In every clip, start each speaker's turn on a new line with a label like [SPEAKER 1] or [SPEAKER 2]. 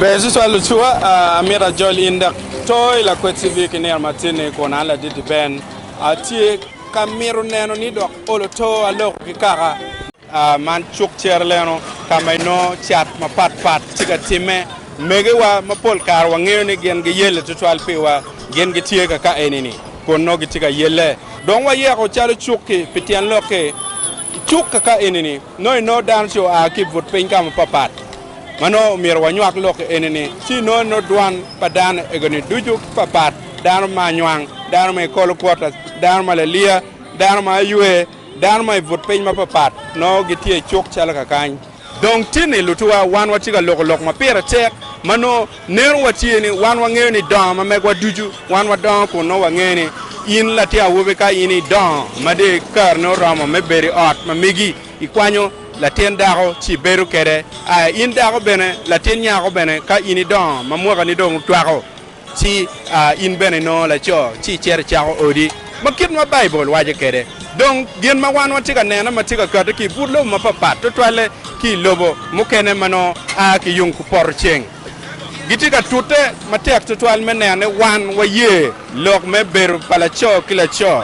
[SPEAKER 1] Ber cwicwa lucwa, amito ajol in dek to i lakwed civic i nino matin-ni kun an ladidi ben. Atye ka mito neno ni dok olo to aloko ki kaka. Man cuk cere leno ka ma inongo cat mapat pat tye ka timme. Megiwa mapol kare wangeyo ni gin giyelle tutwal piwa, gin gitye kaka eni-ni kun nongo gitye ka yelle. Dong wayeko calo cuk-ki pi tyen lok-ki. I cuk kaka eni-ni nongo inongo dano ci oa ki i but piny ka mapat pat. Ma nongo omyero wanywak lokke eni ni, ci nongo nongo dwan pa dano ego ni ducu papat, dano ma anywang, dano ma i kolo kwota, dano ma laliya, dano ma aywe, dano ma i but piny mapapat, nongo gitye cuk calo kakany. Dong tin ni lutuwa wan watye ka loko lok ma pire tek, ma nongo neno watye ni wan wangeyo ni dongo ma megwa ducu wan wadongo kun nongo wangeyo ni in latin awobi ka in idongo madi kareni oromo me bedo i ot ma megi. Ikwanyo latin dako ci ibedo kwede. Aa, in dako bene, latin nyako bene, ka in idongo ma mwakani dong otwako, ci aa, in bene inongo laco, ci icito icako odi. Ma kit ma Baibul waco kwede. Dong, gin ma wan watye ka nene ma tye ka kati ki i but lobo mapapat, tutwalle ki i lobo mukene ma nongo a ki yung kupoto ceng, gitye ka tute matek tutwal me neno ni wan waye lok me bedo pa laco ki laco,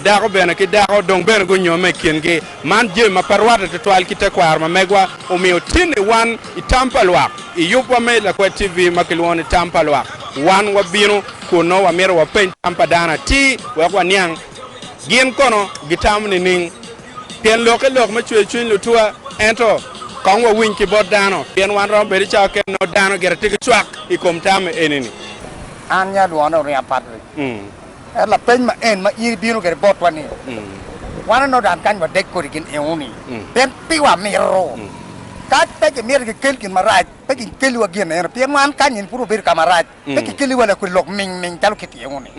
[SPEAKER 1] dako bene ki dako dong bene gunyomme i kingi. Man jami ma pe rwatte tutwal ki tekwaro ma megwa omiyo tye ni wan i tam pa lwak. I yubwa me Lakwed TV ma kilwongo ni Tam pa Lwak, wan wabino kun nongo wamito wapeny tam pa dano atir wek waniang gin kono gitamo nining. Pien lok ki lok me cwer cwiny lutwa, ento kong wawiny ki bot dano, pien wan romo bedo i cawa kene nongo dano gire tye ki cwak i kom tam me eni-ni. An ni adwone oringa Patrick. Ento lapeny ma en ma in ibino kwede botwa ni, Wan onongo dan kany wadek kodi gin eoni, pien pi wa mito. Ka pe kimito ki kel gin marac, pe gin keliwa gin eno, pien wan kany eni pud wabedo ka marac. pe kikeli wa lakwed lok ming ming calo kitimo ni.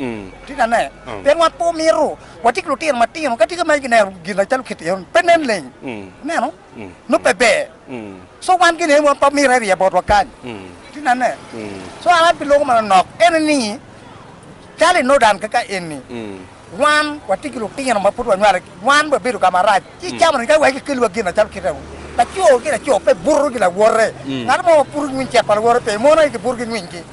[SPEAKER 1] Tika ane? Pien wa pe omito watye ki lutino matino ka tye ka ma gineno gin acalo kitino ni pe nen leng. Ineno? Nongo pe ber. So wan gin aye ma pe omito eriya botwa kany. Tika ane? So an abi loko manonok ene ni calo inodan kaka eni. Wan watye ki lutino ma pud wanywalogi, wan wabedo ka marac ci camonigi ka iweko ikelliwa gin macalo kite wu. Laco ki laco pe buto ki lawote, ngat mo ma buto nywiny cek pa lawote pe, mon aye gibuto ki nywiny-gi,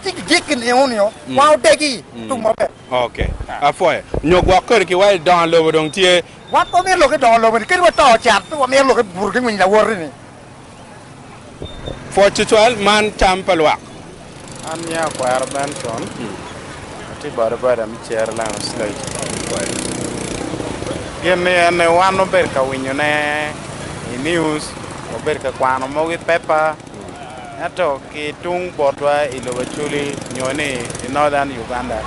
[SPEAKER 1] ci gijiki nio nio wa odegi tung maber. Ok, apwoyo. Nyo gwok kodi ki wa i dongo lobo dong tye. Wan pe wamito lok i dongo lobo-ni, kadi wato can pe wamito lok i buto ki nywiny lawote-ni. Pwod tutwal man tam pa lwak. An nyinga Akwero Benson, atye bodaboda me Cere Lion Stage. Gin ni eni wan wabedo ka winyone i news, wabedo ka kwano mogo i paper, ento ki tung botwa i lobo Acholi nyo ni i Northern Uganda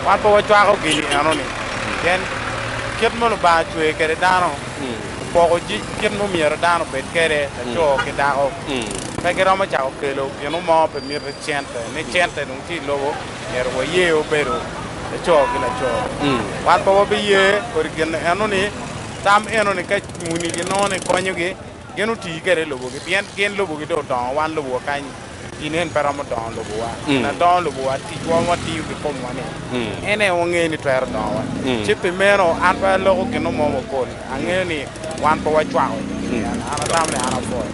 [SPEAKER 1] wan pe wacwako gini eno ni pien kit ma Lubanga cweyo kwede dano. Opoko kit ma myero dano obed kwede, laco ki dako. Pe giromo cako kelo gino mo pe miti cente, ni cente dong tye i lobo, myero waye obedo laco ki laco. Wan pe wabiye kodi gin eno-ni, tam eno-ni ka muni ginongo ni konyogi. Gin otii kede lobogi pien gin lobogi dong odongo wan lobowa kany i nen pe romo dongo lobowa gin adongo lobowa ticwa watiyo ki komwa ni en aye wangeyo ni twero dongowa ci pi meno an pe aloko ginu mo mapol angeyo ni wan pe wacwako i kin yen an atamo ni an apwoyo.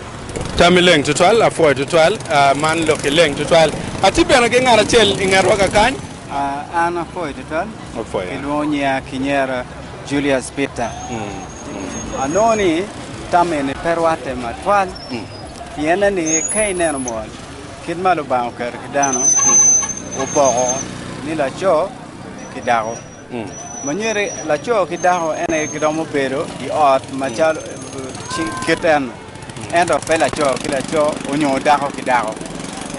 [SPEAKER 1] Tammi leng tutwal, apwoyo tutwal, man lokki leng tutwal. Atye bene ki ngat acel i ngetwa ka kany. An apwoyo tutwal, Apwoyo. kilwongo nyiya kinyera Julius Peter. Anongo ni tam eni pe rwatte matwal, pienne ni ka ineno mot kit ma Lubanga oketo ki dano, opoko ni laco ki dako. Ma nyuti laco ki dako en aye giromo bedo i ot macalo kit eno, ento pe laco ki laco onyo dako ki dako.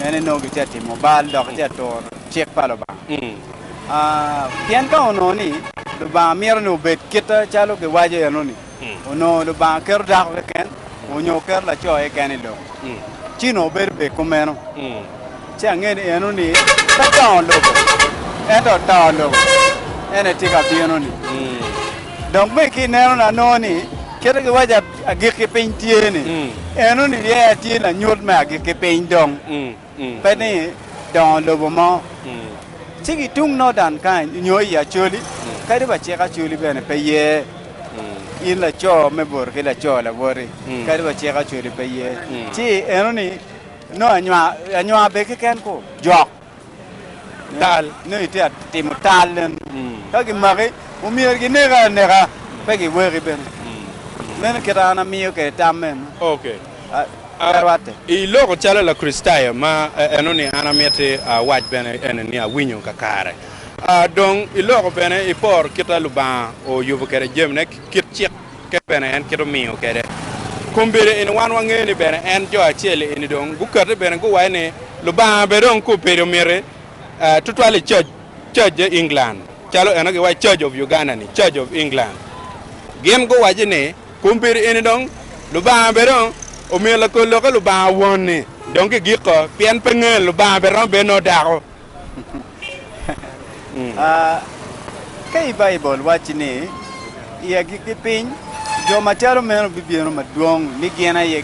[SPEAKER 1] En aye nongo gitye ka timo bal dok gitye ka turo cik pa Lubanga. Pien ka onongo ni Lubanga mito ni obed kit calo giwaco eno-ni, onongo Lubanga keto dako keken onyo oketo laco keken i lobo, ci onongo bedo bene kumeno. Ci angeyo ni eno ni pe dongo lobo, ento oto lobo, en aye tye ka bino-ni. Dok bene ki i nenona anongo ni kite giwaco agikki piny tye-ni, eno ni ryeye aye tye lanyut me agikki piny dong. pe ni dongo lobo mo, ci ki tung Nordan kany nyo i Acoli, kadi wa cik Acoli bene pe ye, in laco me boti ki laco laboti, kadi wa cik Acoli pe ye, ci eno ni nongo anywa, anywa be keken ku jok. Tal. Nongo itye ka timo tal nen. Ka gimaki, omyero gineki aneka, pe giweki bene. Meno kite an amiyo kwede tam meno. I loko calo Lakricitayo ma enoni an amiti awac bene eni ni awinyo kakare. Dong i loko bene ipor kit ma Lubanga oyubo kwede jamine ki kit cik kit bene en kit omiyo kwede. Kombeddi eni wan wangeyo ni bene en jo acel eni dong gukati bene guwaco ni Lubanga bene dong kubedi omiti tutwal i Church Church England calo eno giwaco Church of Uganda ni Church of England gin guwaco ni Kun pi eni dong Lubanga bene dong omiyo lakol lokke Lubanga Won-ni dong gigiko, pien pe nge Lubanga bene romo bedo nongo dako. Ka i Baibul wacci ni, I agikki piny, jo macalo meno bibino madwong, ni gin aye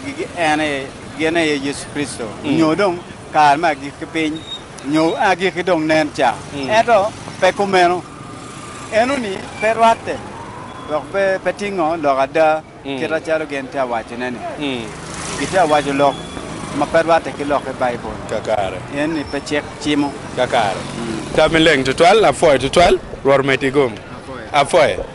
[SPEAKER 1] gin aye Yecu Kricito, nyo dong kare me agikki piny. Nyo agikki dong nen ca. Ento pe kumeno. Eno-ni pe rwatte, dok bene pe tingo lok ada kite calo gin tye ka wacone-ni. Gitye ka waco lok ma pe rwatte ki lok i Baibul. Eno-ni pe cik cimo. Kakare. Tam-mi leng tutwal. Apwoyo tutwal. Rwot omeddi gum. Apwoyo.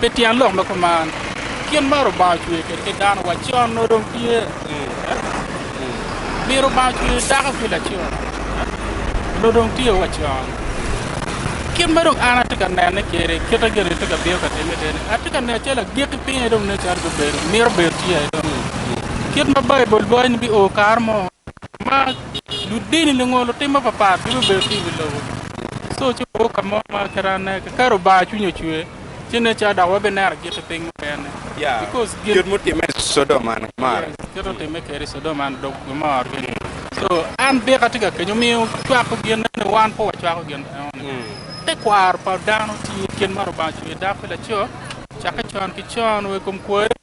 [SPEAKER 1] Pi tyen lok ma kuman, kit ma Lubanga ocweyo kwede ki dano wa con nongo dong tye Min Lubanga ocweyo dako ki laco nongo dong tye wa con. Kit ma dong an atye ka nene kwede, kit ma gin-ni tye ka bino ka timme tye ni atye ka neno calo agikki piny aye dong nen calo mito bedo tye aye dong-ngi. Kit ma Baibul waco ni bio kare mo. Ma ludini nongo lutim mapatpat gibibedo ki i wi lobo. Co ci wawor ka mo ma kit anne kiketo Lubanga cwinye ocwe ci nen calo dok wabineno gik ki piny mukene. Because gin Kit mutimme i Codom man amarre. Yes, kit mutimme kede i Codom man dok gimor gini. So an dika atye ka kenyo omiyo cwako gin eno wan pe wacwako gin eno ni te kwaro pa dano tye i kin ma Lubanga ocweyo dako ki laco cakke con ki con wa i kom kwoyo.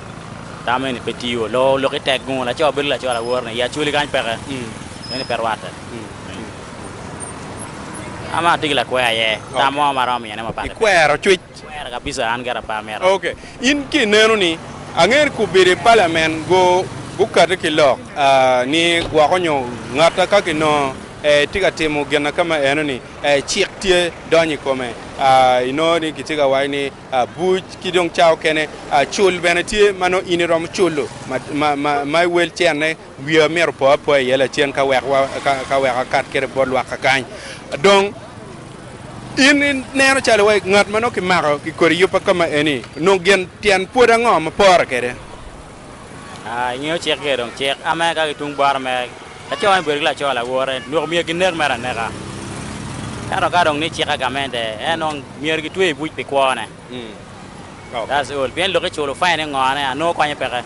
[SPEAKER 1] tam eni pe tiyo. Loo oluk i tek gungo laco bedo laco lawor ni i Acholi kany peke meno pe rwate. An bene atye ki lakwer aye tam mo ma aromo miyone mapat. Ikwero cwic? Akwere kabisa an gire pe amito. Ok in ki ineno ni ange ni kubedi i parliament gu gukati ki lok ni gwoko nyo ngata ka ki nongo tye ka timo gina ka ma eno ni cik tye donyo i kome inongo ni kitye ka waco ni Abuc ki dong ca okene cul bene tye ma nongo in iromo culo ma iwel cene wiya myero opo apoa iye lacen ka wek ka wek akat kede bot lwakka kany dong in ineno calo wai ngat ma nongo kimako kikodi yub pa kama eni nongo gin tyen pwod ango ma pore kede. I ngeyo cik giye dong cik ame ka ki tung bot ame laco ni bedo ki laco lawote noko myero ki nek mere aneka ento ka dong ni cike gamente en dong myero ki tweye ibuc pi kwo ne that's all pien lok ki culo fine ni ngo ne anongo konye peke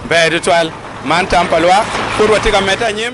[SPEAKER 1] Ber tutwal, man tam pa lwak, pud watye ka medde anyim.